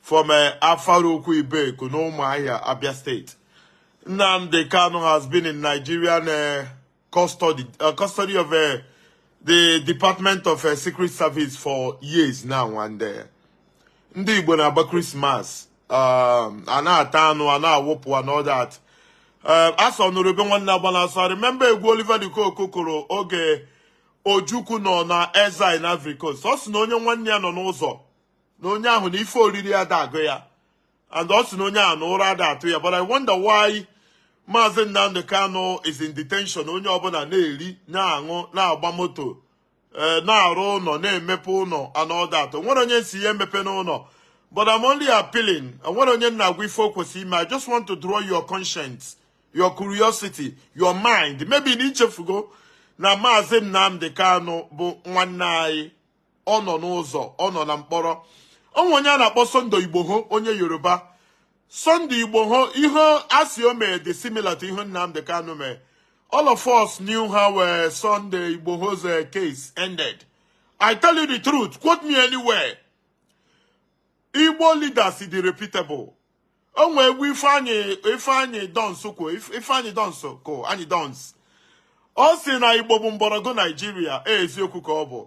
from uh, Afaraukwu Ibeku, n'Ụmụahịa, Abia State. Nnamdi Kanu has been in Nigerian uh, custody, uh, custody of uh, the Department of uh, Secret Service for years now. And uh, ndị Igbo na-agba Christmas, um, a na-ata anụ, a na-awụpụ and all that. Uh, a sị ọ nụrụ ube nwanne agbana ọsọ. I remember egwu Oliver De Coque kụrụ oge Ojukwu nọ na exile na Ivory Coast. Ọ sị na onye nwanne ya nọ n'ụzọ na onye ahụ na ife oriri ada agụ ya and ọ sị na onye ahụ na ụra ada atụ ya but I wonder why Maazị Nnamdi Kanu is in detention onye ọbụla na-eri na-aṅụ na-agba moto eh, na-arụ ụnọ na-emepe ụnọ and all that o nwere onye sị ya emepena ụnọ but I'm only appealing o nwere onye m na-agwa ife o kwesịrị ime I just want to draw your conscience your curiosity your mind maybe na i chefugo na Maazị Nnamdi Kanu bụ nwanne anyị ọ nọ n'ụzọ ọ nọ na mkpọrọ o nwe onye a na-akpọ Sunday Igboho onye Yoruba Sunday Igboho ihe a sị o mee dị similar to ihe Nnamdi Kanu mee all of us knew how uh, Sunday Igboho's uh, case ended I tell you the truth quote me anywhere Igbo leaders dị reputable o nwe egwu ifeanyị ifeanyị dons kụ ifeanyị dons kụ anyị dons ọ sị na igbo bụ mgbọrọgwụ naijiria e, eziokwu ka ọ bụ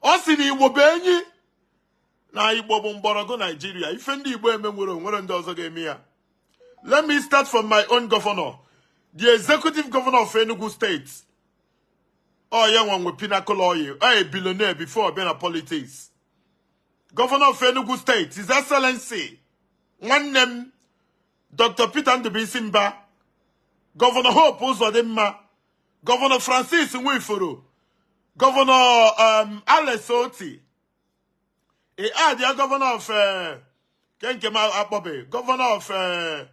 ọ sị na igbo bụ enyi na igbo bụ mgbọrọgwụ naijiria ife ndị igbo eme nwere o nwere ndị ọzọ ga-eme ya let me start from my own governor the executive governor of enugu state ọ ya nwa nwe pinnacle oil ọ a billionaire before ọ bịa na politics Governor of Enugu State, His Excellency, one name, Dr. Peter Ndubisi Mba, Governor Hope Uzodimma, Governor Francis Nwifuru, Governor um, Alex Oti, e add the governor of uh, Kenkema Akpobe, governor of uh,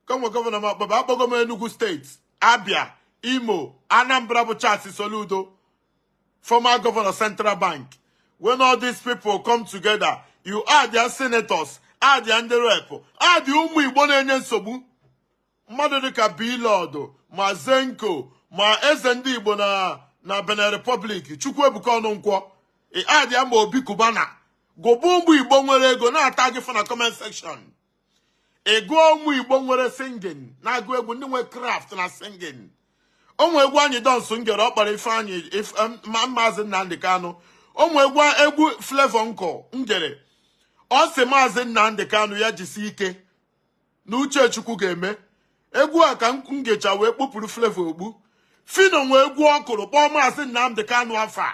ka nwe gọvanọ m akpọba akpọgo m Enugu State Abia Imo Anambra bụ Charles Soludo former governor Central Bank when all these people come together ị adịa senators adịa ndị rep adịa ụmụ Igbo na-enye nsogbu mmadụ dịka Blord ma Zenco ma eze ndị Igbo na na Benin Republic Chukwuebuka Ọnụnkwọ ị adịa ma Obi Cubana gụba ụmụ Igbo nwere ego na-atagị fa na comment section ị gụọ ụmụ igbo nwere singing na-agụ egwu ndị nwere craft na singing o nwe egwu anyị dons m gere ọ kpọrọ ifeanyị ma maazị nnamdị kanụ o nwe egwu flavour nke m gere ọ sị maazị nnamdị kanụ ya jisi ike na uche chukwu ga-eme egwu a ka m gecha wee kpupụrụ flavour okpu phyno nwe egwu ọ kụrụ kpọọ maazị nnamdị kanụ afa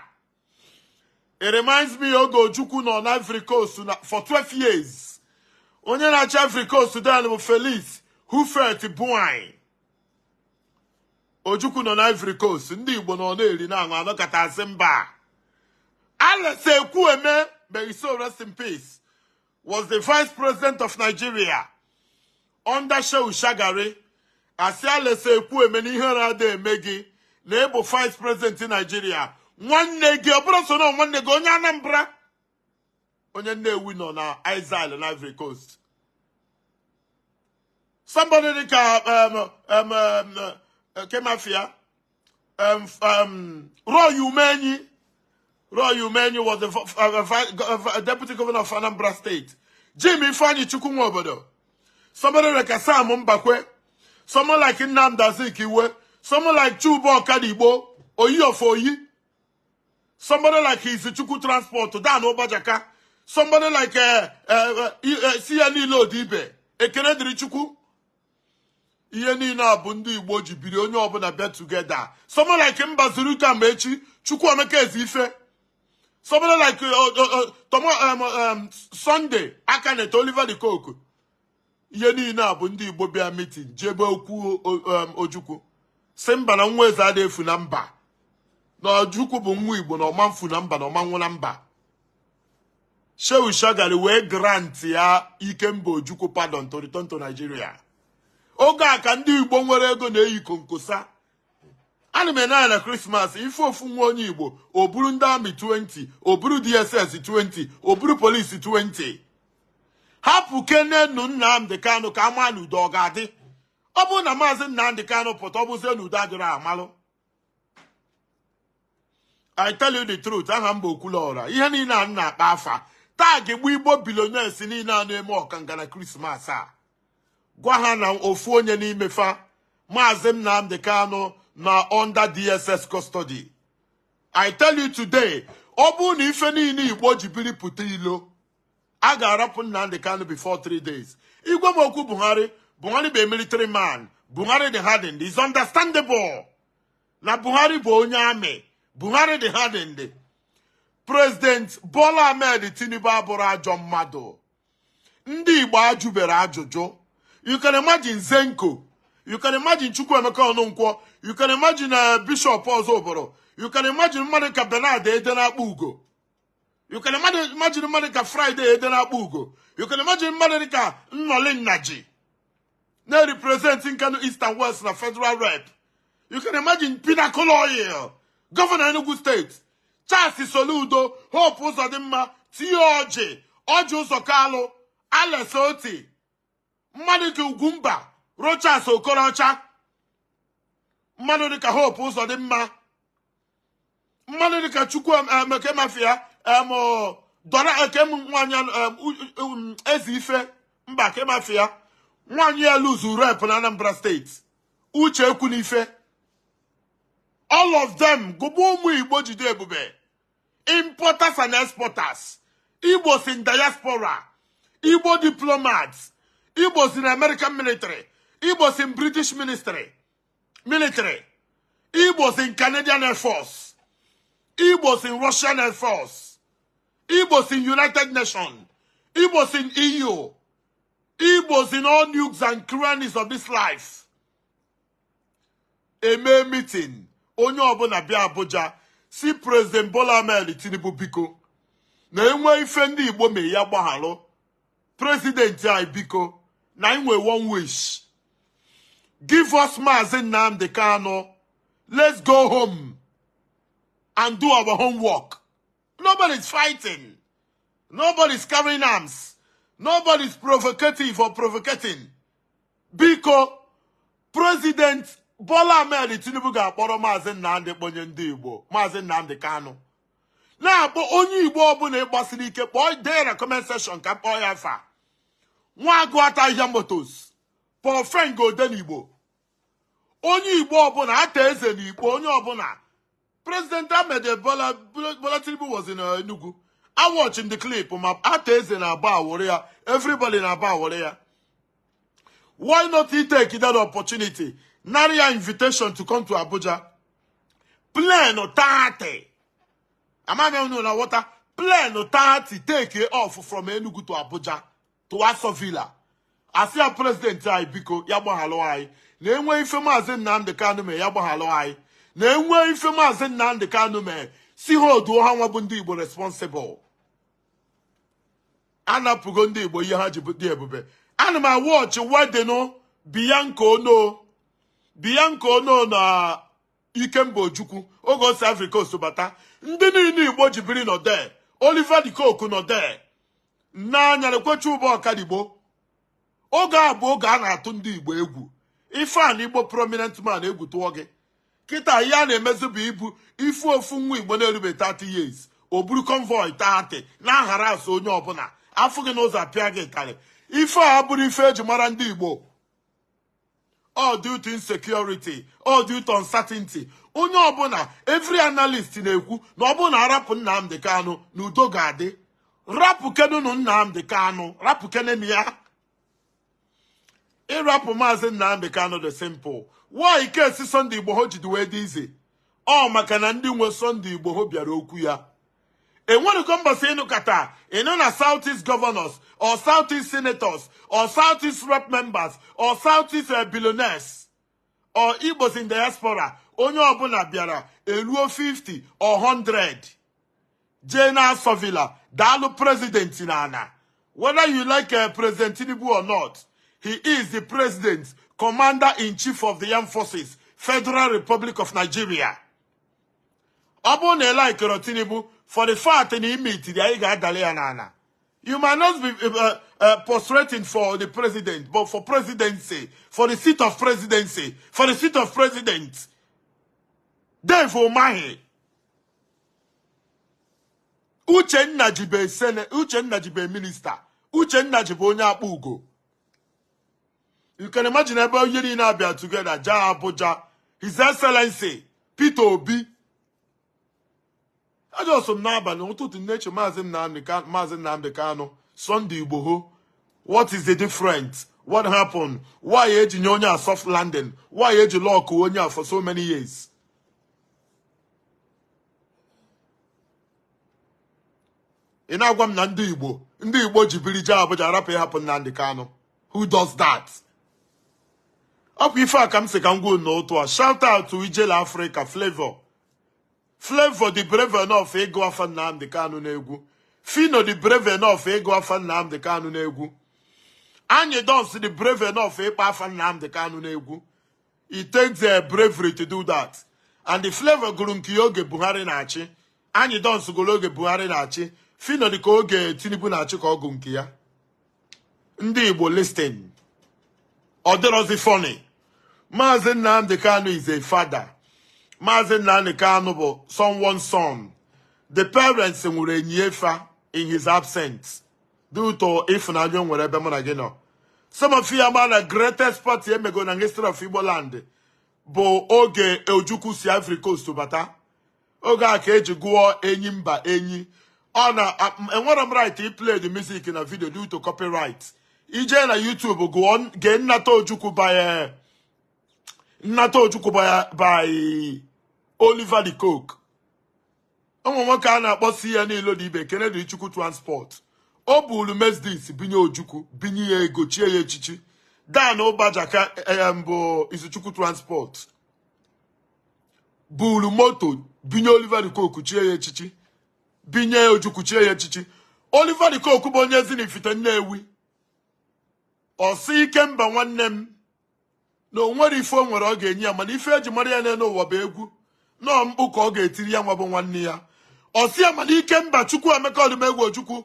it reminds me oge ojukwu nọ na Ivory Coast for 12 years onye na-achị Ivory Coast then bụ Felix Houphouët-Boigny ojukwu nọ na Ivory Coast ndị Igbo nọ na-eri na-aṅụ a nọkata a sị mba Alex Ekwueme may his soul rest in peace was the vice president of Nigeria under Shehu Shagari a sị Alex Ekwueme na ihere ada eme gị na ịbụ vice president Nigeria nwanne gị ọ bụrọ so na nwanne gị onye Anambra onye Nnewi nọ na exile na Ivory Coast somebody dịka um, um, um, kee ma afa ya Roy Umenyi Roy Umenyi was the uh, deputy governor of Anambra State Jim Ifeanyi Chukwu nwe obodo somebody like Sam Mbakwe someone like Nnamdi Azikiwe someone like Chuba Okadigbo Oyi of Oyi somebody like Izuchukwu Transport Dan Obajaka somebody like uh, uh, uh, uh, CNE Lodibe Ekene Dirichukwu ihe niile a bụ ndị igbo ji biri onye ọbụla bịa together someone like Mbazulike Amechi Chukwuemeka Ezeife someone like uh, uh, uh, tomo um, um, Sunday Akanite Oliver De Coque ihe niile a bụ ndị igbo bịa meeting jebe okwu um, ojukwu sị mba na nwa eze ada efu na mba na ojukwu bụ nwa igbo na ọ ma-efu na mba na ọ ma-anwụ na mba Shehu Shagari wee grant ya Ikemba Ojukwu pardon to return to Nigeria oge a ka ndị Igbo nwere ego na-eyi konkosa ana m ene anya na krismas ị fụ ofu nwa onye igbo o buru ndị army 20 o buru dss 20 o buru police 20 hapụkenenu Nnamdi Kanu ka a ma na udo ọ ga-adị ọ bụrụ na maazị Nnamdi Kanu pụta ọ bụzie na udo adịrọ a malụ I tell you the truth aha m bụ Okwuluọra ihe niile a m na-akpọ afa tag gbu Igbo billionaires niile a na-eme ọkanga na krismas a gwa ha na ofu onye n'ime fa maazị Nnamdi Kanu nọ under DSS custody I tell you today ọ bụrụ na ife niile igbo ji biri pụta ilo a ga-arapụ Nnamdi Kanu before three days ị gwa m okwu Buhari Buhari bụ military man Buhari dị hardened is understandable na Buhari bụ onye army Buhari dị hardened President Bola Ahmed Tinubu abụrọ ajọ mmadụ ndị Igbo ajụberọ ajụjụ you can imagine Zenco you can imagine Chukwuemeka Ọnụnkwọ you can imagine uh, Bishop Ozubulu you can imagine mmadụ ka Bernard Ede Akpugo you can imagine imagine mmadụ ka Friday Ede na Akpugo you can imagine mmadụ dị ka Nnolim Nnaji na-represent Nkanu East and West na federal rep you can imagine Pinnacle Oil gọvanọ Enugu steeti Charles Soludo Hope Uzodimma T.A. Orji Orji Uzor Kalu Alex Oti mmadụ dịka Ugwumba Rochas Okorocha mmadụ dịka Hope Uzodimma mmadụ dịka Chukwu kee ma afa ya em Dora ekem nwaanyị Ezeife mba kee ma afa ya nwaanyị a lose rep na Anambra steeti Uche Ekwunife all of them ga bụ ụmụ igbo jide ebube importers and exporters igbos in diaspora igbo diplomats igbos in american military igbos in british military igbos in canadian air force igbos in russian air force igbos in united nations igbos in eu igbos in all nooks and crannies of this life emee meeting onye ọbụla bịa Abuja sị president Bola Ahmed Tinubu biko na enwee ife ndị Igbo mee ya gbagharụ president anyị biko na anyị nwe one wish give us Maazị Nnamdi Kanu let's go home and do our homework nobody is fighting nobody is carrying arms nobody is provocative or provocating biko president Bola Ahmed Tinubu gaa kpọrọ maazị Nnamdị kpọnye ndị Igbo maazị Nnamdị Kanu na-akpọ onye Igbo ọbụla ịgbasiri ike kpọọ dee na comment section ka m kpọọ ya afa nwa agụ ata ahịhịa motors Paul Frengo Odenigbo onye Igbo ọbụla Arthur Eze na Ukpo onye ọbụla President Ahmed Bola Tinubu was in Enugu. I watch in the clip ma Arthur Eze na-abowụrụ ya everybody na-abowụrụ ya. Why not he take that opportunity? Nara ya invitation to come to Abuja. Plane 30. Ama m unu na-awọta. Plane 30 take off from Enugu to Abuja. to aso villa a sị ya president anyị biko ya gbaghalụ anyị na enwe ife maazị nnamdị kanụ mee ya gbaghalụ anyị na enwe ife maazị nnamdị kanụ mee si ha oduo ha nwa bụ ndị igbo responsible anapụgo ndị igbo ihe ha ji dị ebube ana m a-watch wedding bian bianca onoh na ikemba ojukwu oge osi africa osobata ndị niile igbo ji biri nọ there oliver de coque nọ there nne anya na-ekwe chuba ọkadigbo oge a bụ oge a na-atụ ndị igbo egwu ịfụ an igbo prominent man egwu tụọ gị kịta ihe a na-emezi bụ ibu ịfụ ofu nwa igbo na-erube 30 years o buru convoy 30 na-aharass onye ọbụla afụ gị n'ụzọ apịa gị ụtarị ife a bụrụ ife eji mara ndị igbo all due to insecurity all due to uncertainty onye ọbụla every analyst na-ekwu na ọ bụrụ na arapụ Nnamdi Kanu na udo ga-adị rapụkenenụ Nnamdi Kanu rapụkenenụ ya ịrapụ maazị Nnamdi Kanu dị simple why case Sunday Igboho jidi wee dị easy ọ maka na ndị nwe Sunday Igboho bịara okwu ya enwerego mbọsị ị nụkata ị nụ na south east governors or south east senators or south east rep members or south east eh, billionaires or igbos in diaspora onye ọbụla bịara eruo 50 or 100 jee na aso villa daalụ president n'ana whether you like eh, president tinubu or not he is the president commander in chief of the armed forces federal republic of nigeria ọ bụrụ na ị likerọ tinubu for the fact na i mechiri anya gaa daalị ya n'ana you might not be uh, uh, uh, prostrating for the president but for presidency for the seat of presidency for the seat of president Dave Umahi Uche Nnaji bụ sene Uche Nnaji bụ minister Uche Nnaji bụ onye Akpugo you can imagine ebe onye niile abịa together jee Abuja His Excellency Peter Obi ajọsọ m n'abalị ụtụtụ nneche maazị Nnamdi Kanu maazị Nnamdi Kanu Sunday Igboho what is the difference what happened why eji nye onye a soft landing why eji lockuo onye a for so many years ị na-agwa m na ndị Igbo ndị Igbo ji biri jee Abuja rapụ ịhapụ Nnamdi Kanu who does that ọ bụ ife a ka m sị ka m kwuo n'otu a shout out to ijele africa flavour flavour dị brave enough ịgụ afa nnamdi kanu n'egwu phyno dị brave enough ịgụ afa nnamdi kanu n'egwu anyidons dị brave enough ịkpọ afa nnamdi kanu n'egwu it takes a bravery to do that and the flavour gụrụ nke ya oge buhari na-achị anyidons gụrụ oge buhari na-achị phyno dị ka oge tinubu na-achị ka ọ gụ nke ya ndị Igbo listen ọ dịrọzi funny maazị Nnamdi Kanu is a father maazị Nnamdi Kanu bụ someone's son the parents nwụrụ e nie fa in his absence due to ịfụnanya o nwere ebe mụ na gị nọ some of you ama na greatest party emego na history of Igbo land bụ oge Ojukwu si Ivory Coast bata oge a ka eji gụọ enyimba enyi ọ na enwerọ m right ịplay the music na video due to copyright i jee na YouTube gụọ gee nnata ojukwu by nnata ojukwu by Oliver de Coque o nwere nwoke a na-akpọ Austin Ilodibe Ekene Dili Chukwu transport o buru Mercedes bunye ojukwu bunye ya ego chie ya echichi dan ụbajaka mbụ Izuchukwu transport buru moto binye Oliver de Coque chie ya echichi binye Ojukwu chie ya echichi Oliver de Coque bụ onye Ezinifite Nnewi ọ sị Ikemba nwanne m na o nwerọ ife o nwere ọ ga-enye ya mana ife eji mara ya n'ụwa bụ egwu na ọ mkpu ka ọ ga-etiri ya nwa bụ nwanne ya ọ sị ya mana Ikemba Chukwuemeka Odumegwu Ojukwu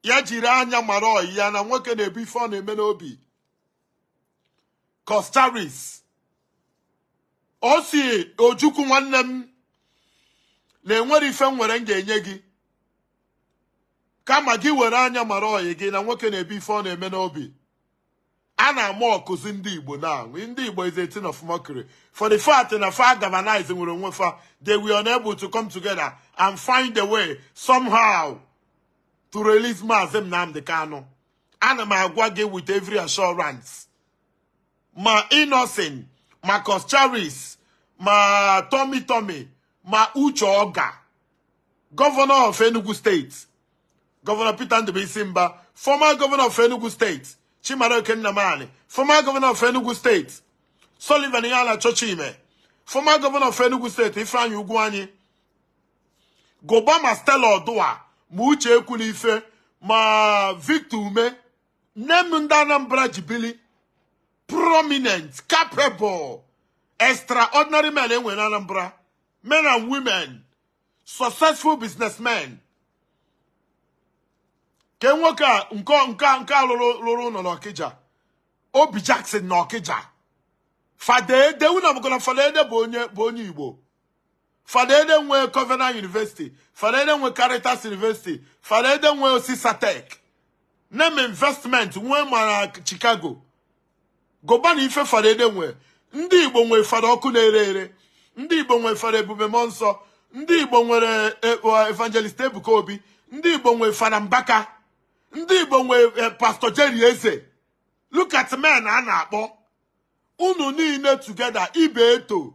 ya jiri anya mara ọyị ya na nwoke na-ebu ife ọ na-eme n'obi Coscharis ọ sị Ojukwu nwanne m na enwerọ ife m nwere m ga-enye gị kama gị were anya mara ọyị gị na nwoke na-ebu ife ọ na-eme n'obi a na-amockuzi ndị Igbo now ndị Igbo is a thing of mockery for the fact na fa galvanize nwurọ onwe fa they were unable to come together and find a way somehow to release Maazị Nnamdi Kanu ana m agwa gị with every assurance ma Innoson ma Coscharis ma Tummy Tummy ma Uche Ogah governor of Enugu state governor Peter Ndubuisi Mba former governor of Enugu state Chimaroke Nnamani former governor of Enugu state Sullivan Iheanacho Chime former governor of Enugu state Ifeanyi Ugwuanyi gụba ma Stella Oduah ma Uche Ekwunife ma Victor Umeh nee nụ ndị Anambra ji bili prominent capable extraordinary men e nwere n'Anambra men and women successful businessmen ke nwoke a nke nke nke a rụrụ ụnọ n'Ọkịja Obijackson n'Ọkịja Fada Ede unu amago na Fada Ede bụ onye bụ onye Igbo fada ede nwe covenant university fada ede nwe caritas university fada ede nwe osisatech name investment nwee mara chicago gụba na ife fada ede nwe ndị igbo nwe fada ọkụ na-ere ere ndị igbo nwe fada ebube mmụọ nsọ ndị igbo nwere eh, eh, evangelist ebuka obi ndị igbo nwe fada mbaka ndị igbo nwe eh, pastor jerry eze look at men a na-akpọ unu niile together ibeto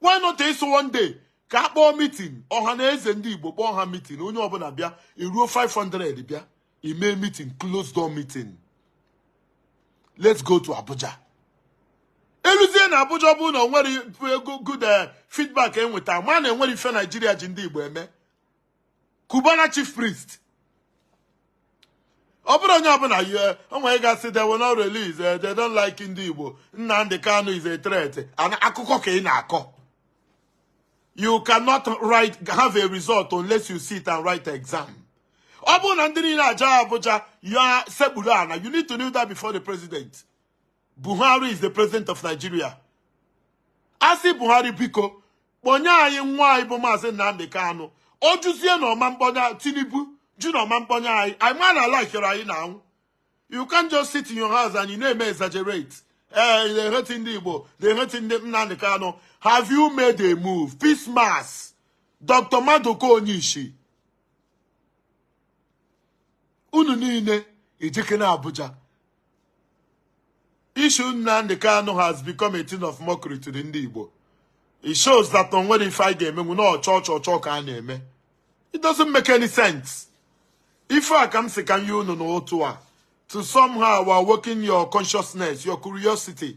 why not ị sị one day ka a kpọọ meeting ọha na eze ndị igbo kpọọ ha meeting onye ọbụla bịa eruo 500 bịa ime meeting close door meeting let's go to abuja e luzie na abuja ọ bụrụ na o nwerọ good eh, feedback e nweta ma na e nwere ife nigeria ji ndị igbo eme Cubana chief priest ọ bụrụ onye ọbụla yie onwe ga-asị they will not release eh, they don't like ndị Igbo Nnamdi Kanu is a threat and akụkọ ka ị na-akọ you cannot have a result unless you sit and write exam ọ bụrụ na ndị niile a jaa Abuja ya sekpuru ana you need to kneel down before the president Buhari is the president of Nigeria a sị Buhari biko kpọnye anyị nwa anyị bụ maazị Nnamdi Kanu ọ jụzie na ọ ma mkpọnye Tinubu jụ na ọ ma mkpọnye anyị anyị ma na ala ikere anyị na anwụ you can't just sit in your house and you na-eme exaggerate ee eh, na-eheti ndị Igbo na-eheti ndị Nnamdi Kanu have you made a move Peace Mass Dr. Maduka Onyishi unu niile ejikere Abuja Issue Nnamdi Kanu has become a thing of mockery to the ndị Igbo. It shows that o nwerọ ife anyị ga-emenwu na ọ chọ chọ chọ ka a na-eme. It doesn't make any sense. Ife a ka m sị ka m nye unu n'ụtụtụ a to somehow awaken your consciousness, your curiosity.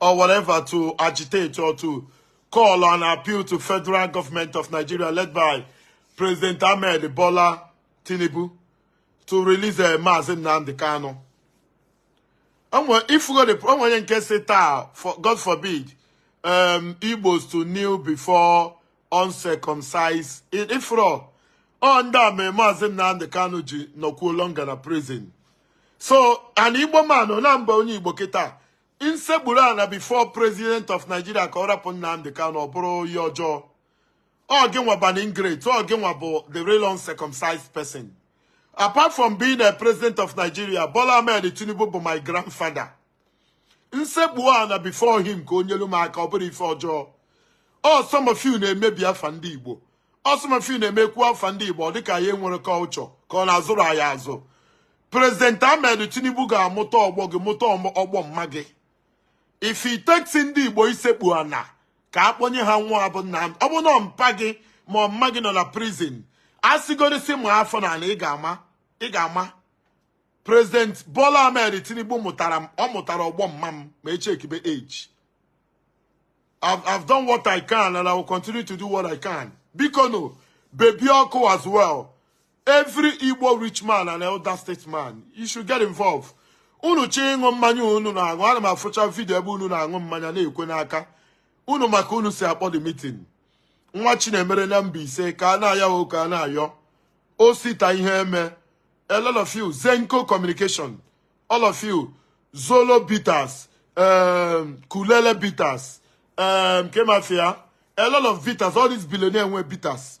or whatever to agitate or to call and appeal to federal government of Nigeria led by President Ahmed Bola Tinubu to release a eh, Mazi Nnamdi Kanu. Ị fụgo onye nke sị taa, God forbid, um, Igbos to kneel before uncircumcised Ị fụrọ. Ọ ndị a mee Mazi Nnamdi Kanu ji nọkwuo longer na prison. So, an Igbo man, ọ na m bụ onye Igbo kịta m sekpuru ana before president of Nigeria ka ọ rapụ Nnamdi Kanu ọ bụrụ ihe ọjọọ ọ gị nwa bụ an ingrate ọ gị nwa bụ the real uncircumcised person apart from being a president of Nigeria Bola Ahmed Tinubu bụ my grandfather m sekpu ana before him ka o nyelu m aka ọ bụrụ ife ọjọọ ọ some of you na-emebi afa ndị Igbo ọ some of you na-eme e kwuo afa ndị Igbo ọ dịka anyị enwerọ culture ka ọ na azụrọ anyị azụ President Ahmed Tinubu ga-amụta ọgbọ gị mụta ọgbọ mma gị if it takes ndị Igbo isekpu ana ka a kpọnye ha nwa ha bụ nna ọ bụ na mpa gị ma ọ mma gị nọ na prison a sịgorisi ma afọ n'ala ị ga-ama ị ga-ama President Bola Ahmed Tinubu mụtara m ọ mụtara ọgbọ mma m ma e checkibe age I've, I've done what I can and I will continue to do what I can bikonụ Baby Ọkụ as well every Igbo rich man and elder statesman you should get involved unu chọọ ịṅụ mmanya unu na-aṅụ ana m afụcha vidio ebe unu na-aṅụ mmanya na-ekwe n'aka unu ma ka unu si akpọ the meeting Nwachinemere na Mbaise Kanayo O. Kanayo Osita Iheme a lot of you Zenco Communication all of you zolo bitters um, kulele bitters um, kemafia a lot of bitters all these billionaire nwe bitters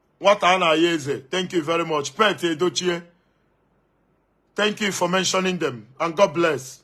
nwata a na-aya eze thank you very much pet edochie thank you for mentioning them and god bless